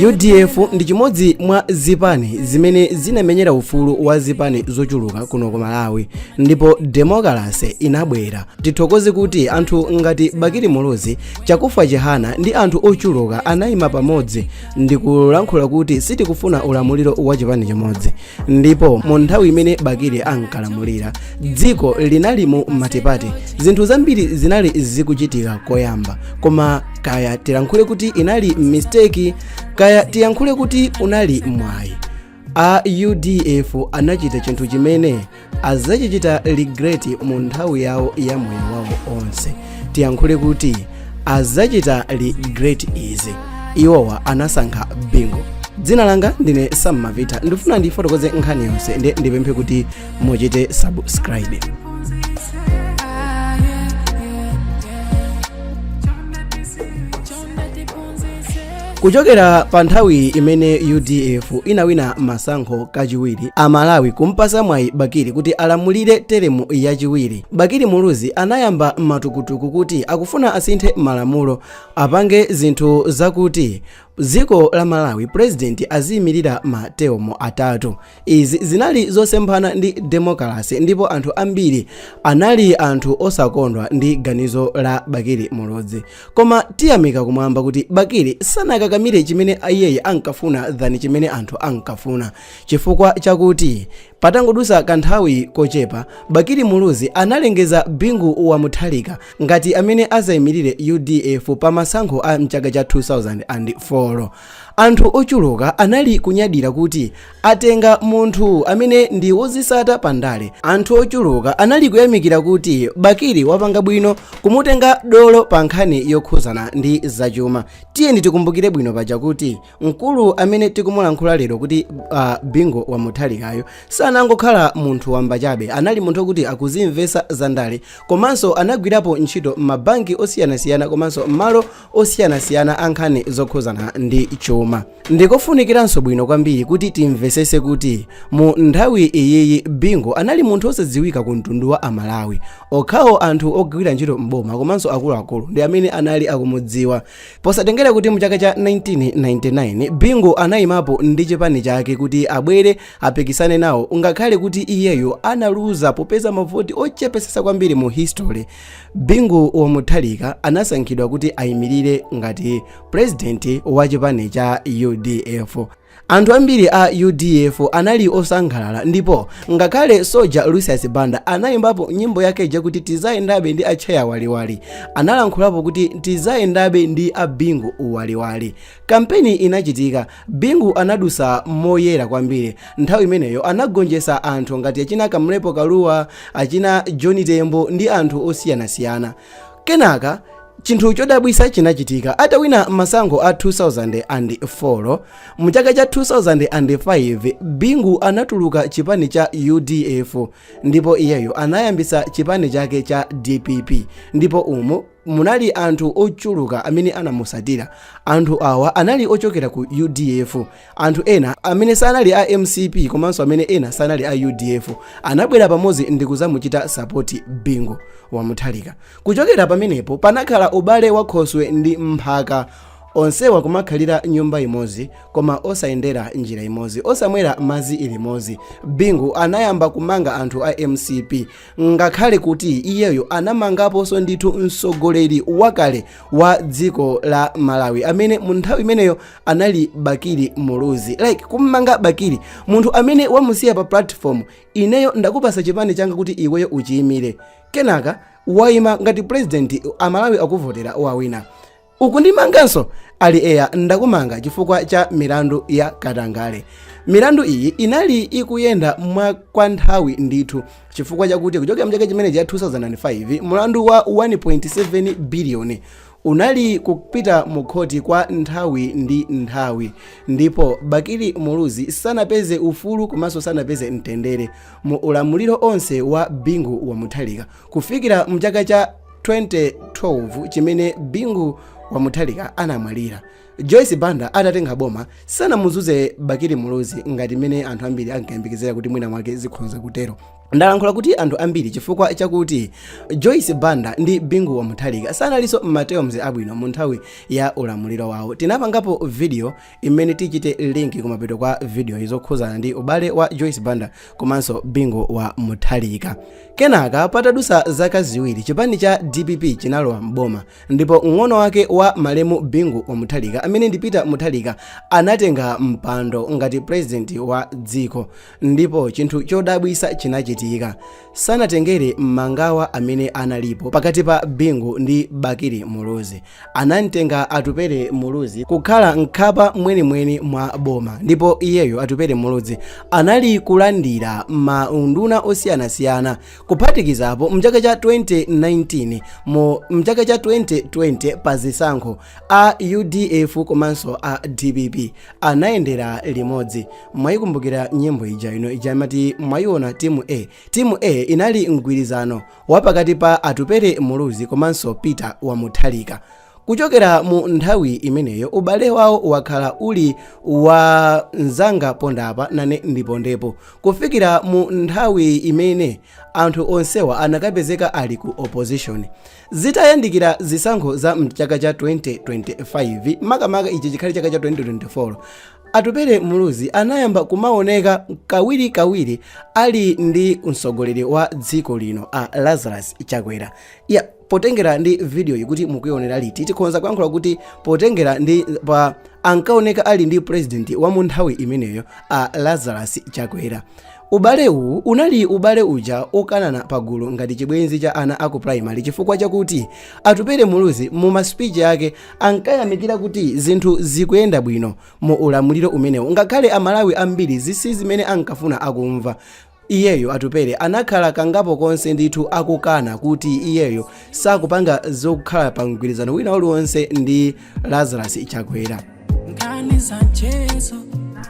udf ndi chimodzi mwa zipani zimene zinamenyera ufulu wa zipani zochuluka kuno ku malawi ndipo demokalase inabwera tithokoze kuti anthu ngati bakili muluzi chakufwa chihana ndi anthu ochuluka anayima pamodzi ndikulankhula kuti sitikufuna ulamuliro wa chipani chimodzi ndipo mu nthawi imene bakili ankalamulira dziko linali mu matipate zinthu zambiri zinali zikuchitika koyamba koma kaya tilankhule kuti inali mistake kaya tiyankhule kuti unali mwayi a udf anachita chinthu chimene azachichita regret mu nthawi yawo ya moyo wawo onse tiyankhule kuti azachita regret izi iwowa anasankha bingu dzina langa ndine sammavita ndifuna ndifotokoze nkhani yonse nde ndipemphe kuti muchite subscribe kuchokera pa nthawi imene udf inawina masankho kachiwiri amalawi kumpasa mwayi bakili kuti alamulire teremu yachiwiri bakili muluzi anayamba matukutuku kuti akufuna asinthe malamulo apange zinthu zakuti dziko la malawi purezidenti aziyimirira materemu atatu Izi zinali zosemphana ndi demokalase ndipo anthu ambiri anali anthu osakondwa ndi ganizo la Bakili Muluzi. Koma tiyamika kumwamba kuti Bakili sanakakamire chimene iyeyi ankafuna than chimene anthu ankafuna chifukwa chakuti patangodusa kanthawi kochepa Bakili Muluzi analengeza Bingu wa Mutharika ngati amene azaimilire udf pa masankho a mchaka cha 2004. Anthu ochuluka anali kunyadira kuti atenga munthu amene ndi wozisata pa ndale. Anthu ochuluka anali kuyamikira kuti Bakili wapanga bwino kumutenga dolo pa nkhani yokhuzana ndi zachuma. Tiyeni tikumbukire bwino paja kuti mkulu amene tikumulankhula lero kuti a Bingu wa Mutharikayu sanangokhala munthu wamba chabe. Anali munthu okuti akuzimvesa za ndale komanso anagwirapo ntchito m'mabanki osiyanasiyana komanso m'malo osiyanasiyana a nkhani zokhuzana ndi chuma ndikofunikiranso bwino kwambiri kuti timvesese kuti mu nthawi iyiyi bingu anali munthu osadziwika ku mtundu wa amalawi okhawo anthu ogwira ntchito m'boma komanso akuluakulu ndi amene anali akumudziwa posatengera kuti mu chaka cha 1999 bingu anayimapo ndi chipani chake kuti abwere apikisane nawo ngakhale kuti iyeyo analuza popeza mavoti ochepesesa kwambiri mu history bingu wa mutharika anasankhidwa kuti ayimirire ngati purezidenti wa chipani cha udf anthu ambiri a udf anali osangalala ndipo ngakhale soja lucius banda anayimbapo nyimbo yake ija kuti tizayendabe ndi atcheya waliwali analankhulapo kuti tizayendabe ndi a bingu waliwali kampeni inachitika Bingu anadusa moyera kwambiri nthawi imeneyo anagonjesa anthu ngati achina Kamlepo Kalua, achina John Tembo ndi anthu osiyanasiyana. Kenaka chinthu chodabwisa chinachitika atawina masankho a 2004 mu chaka cha 2005 Bingu anatuluka chipani cha udf ndipo iyeyo anayambisa chipani chake cha dpp ndipo umu munali anthu ochuluka amene anamusatira anthu awa anali ochokera ku udf anthu ena amene sanali a mcp komanso amene ena sanali a udf anabwera pamodzi ndikuzamuchita sapoti bingu wa mutharika kuchokera pamenepo panakhala ubale wa khoswe ndi mphaka onsewa kumakhalira nyumba imodzi koma osayendera njira imodzi osamwera madzi limodzi bingu anayamba kumanga anthu a mcp ngakhale kuti iyeyo anamangaponso ndithu mtsogoleri wakale wa dziko la malawi amene mu nthawi imeneyo anali bakili muluzi like kummanga bakili munthu amene wamusiya pa platform ineyo ndakupasa chipani changa kuti iweyo uchiyimire kenaka wayima ngati president amalawi akuvotera wawina Ukundimanganso? Ali eya ndakumanga chifukwa cha milandu ya katangale. Milandu iyi inali ikuyenda mwa kwa nthawi ndithu chifukwa chakuti kuchokera mchaka chimenechi cha 2005 mulandu wa 1.7 biliyoni unali kupita mu khoti kwa nthawi ndi nthawi ndipo bakili muluzi sanapeze ufulu komanso sanapeze mtendere mu ulamuliro onse wa bingu wa mutharika kufikira mchaka cha 2012 chimene bingu wa mutharika anamwalira joyce banda atatenga boma sanamuzuze bakili muluzi ngati mmene anthu ambiri ankayembekezera kuti mwina mwake zikhoza kutero ndalankhula kuti anthu ambiri chifukwa chakuti joyce banda ndi bingu wa mutharika sanalinso m'ma terms abwino mu nthawi ya ulamuliro wawo tinapangapo video imene tichite link kumapeto kwa video-yi zokhuzana ndi ubale wa joyce banda komanso bingu wa mutharika kenaka patadusa zaka ziwiri chipani cha dpp chinalowa mboma ndipo mng'ono wake wa malemu bingu wa mutharika amene ndi peter mutharika anatenga mpando ngati president wa dziko ndipo chinthu chodabwisa chinachitika sanatengere mangawa amene analipo pakati pa bingu ndi bakili muluzi anamtenga atupere muluzi kukhala mkhapa mwenimweni mwa boma ndipo iyeyo atupere muluzi anali kulandira maunduna osiyanasiyana kuphatikizapo mchaka cha 2019 mu mchaka cha 2020 pa zisankho A udf komanso a dpp anayendera limodzi. Mwaikumbukira nyimbo ija ino ijamati mwaiona timu A. Timu A inali mgwirizano wa pakati pa Atupere Muluzi komanso Peter wa Mutharika. Kuchokera mu nthawi imeneyo ubale wawo wakhala uli wa nzanga pondapa nane ndipondepo kufikira mu nthawi imene anthu onsewa anakapezeka ali ku opposition. Zitayandikira zisankho za mchaka cha 2025 makamaka ichi chikhale chaka cha 2024 Atupere Muluzi anayamba kumaoneka kawiri kawiri ali ndi mtsogoleri wa dziko lino a Lazarus Chakwera ya potengera ndi videoyi kuti mukuionerayi tikhonza kuyankhula kuti potengera ndi pa ankaoneka ali ndi president wa munthawi imeneyo a Lazarus Chakwera Ubale uwu unali ubale uja okanana pagulu ngati chibwenzi cha ana aku primary chifukwa chakuti Atupere Muluzi mu ma speech ake ankayamikira kuti zinthu zikuyenda bwino mu ulamuliro umenewo ngakhale a Malawi ambiri izi si zimene ankafuna akumva. Iyeyo Atupere anakhala kangapo konse ndithu akukana kuti iyeyo sakupanga zokhala pa mgwirizano wina uliwonse ndi lazarus chakwera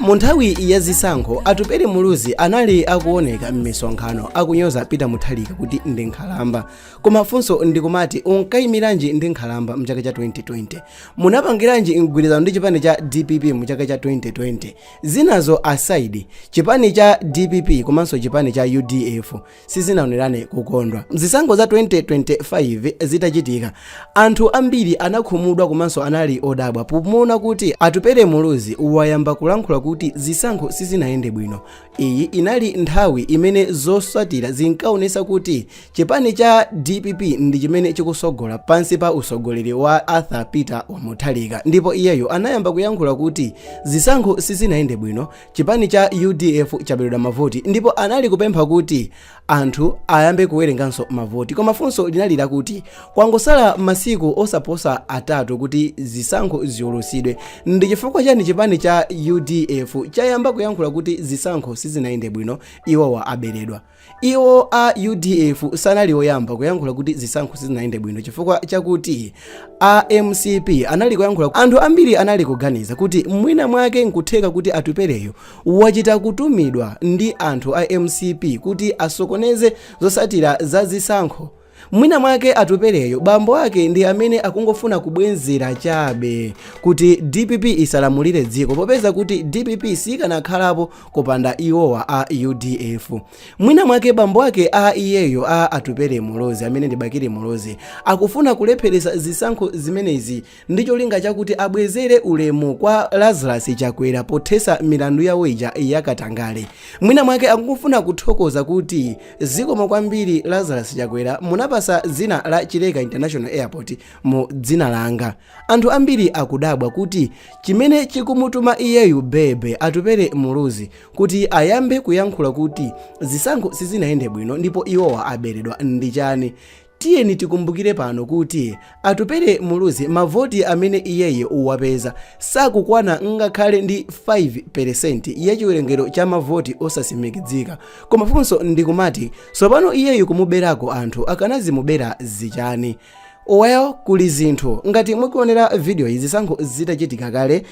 mu nthawi ya zisankho atupere muluzi anali akuoneka m'misonkhano akunyoza peter mutharika kuti ndi nkhalamba koma funso ndikumati unkayimiranji ndi nkhalamba mchaka cha 2020 munapangiranji mgwirizano ndi chipani cha dpp mchaka cha 2020 zinazo aside chipani cha dpp komanso chipani cha udf sizinaonerane kukondwa. Zisankho za 2025 zitachitika, anthu ambiri anakhumudwa komanso anali odabwa pomuona kuti Atupere Muluzi wayamba kulankhula kuti zisankho sizinayende bwino. Iyi inali nthawi imene zotsatira zinkaonetsa kuti chipani cha dpp ndi chimene chikutsogola pansi pa utsogoleri wa Arthur Peter wa Mutharika ndipo iyeyo anayamba kuyankhula kuti zisankho sizinayende bwino Chipani cha udf chaberedwa mavoti ndipo anali kupempha kuti anthu ayambe kuwerenganso mavoti koma funso linali lakuti kwangosala masiku osaposa atatu kuti zisankho ziulutsidwe ndi chifukwa chani chipani cha udf chayamba kuyankhula kuti zisankho sizinayende bwino iwowa aberedwa Iwo a udf sanali oyamba kuyankhula kuti zisankho sizinayende bwino chifukwa chakuti a mcp anali kuyankhula. Anthu ambiri anali kuganiza kuti mwina mwake nkutheka kuti Atupeleyu wachita kutumizidwa ndi anthu a mcp kuti asokoneze zosatira za zisankho. Mwinamwake atupeleyo bambo ake ndi amene akungofuna kubwenzera chabe kuti dpp isalamulire dziko popeza kuti dpp sikanakhalapo kupanda iwowa a udf. Mwinamwake bambo ake a iyeyo a Atupele Muluzi amene ndi Bakili Muluzi akufuna kulepheretsa zisankho zimenezi ndi cholinga chakuti abwezere ulemu kwa lazarus chakwera pothesa milandu yawo ija yakatangale mwina mwake akufuna kuthokoza kuti zikomo kwambiri lazarus chakwera munapasa dzina la chileka international airport mu dzina langa anthu ambiri akudabwa kuti chimene chikumutuma iyeyu bebe atupere muluzi kuti ayambe kuyankhula kuti zisankho sizinayende bwino ndipo iwowa aberedwa ndi chani Tiyeni tikumbukire pano kuti Atupele Muluzi mavoti amene iyeyu wapeza sakukwana ngakhale ndi 5 peresenti ya chiwerengero cha mavoti osasimikidzika. Koma funso ndikumati tsopano iyeyu kumuberako anthu akanazimubera zichani? Well kuli zinthu ngati mukuonera video iyi zisankho zitachitika kale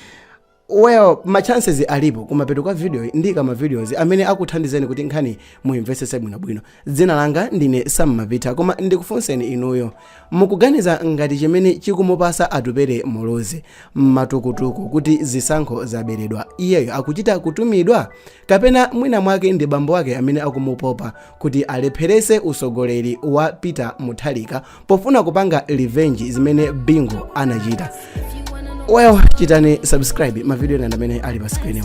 Well, ma chances alipo kumapeto kwa video iyi ndiika ma videos amene akuthandizeni kuti nkhani muimvetsetse bwinobwino. Dzina langa ndine Sam Mapita koma ndikufunseni inuyo. Mukuganiza ngati chimene chikumupasa atupere muluzi matukutuku kuti zisankho zaberedwa iyeyo akuchita kutumidwa kapena mwina mwake ndi bambo wake amene akumupopa kuti alepherese usogoleri wa peter mutharika pofuna kupanga revenge zimene bingu anachita well chitani subscribe mavidiyo ena ndi amene ali pa screen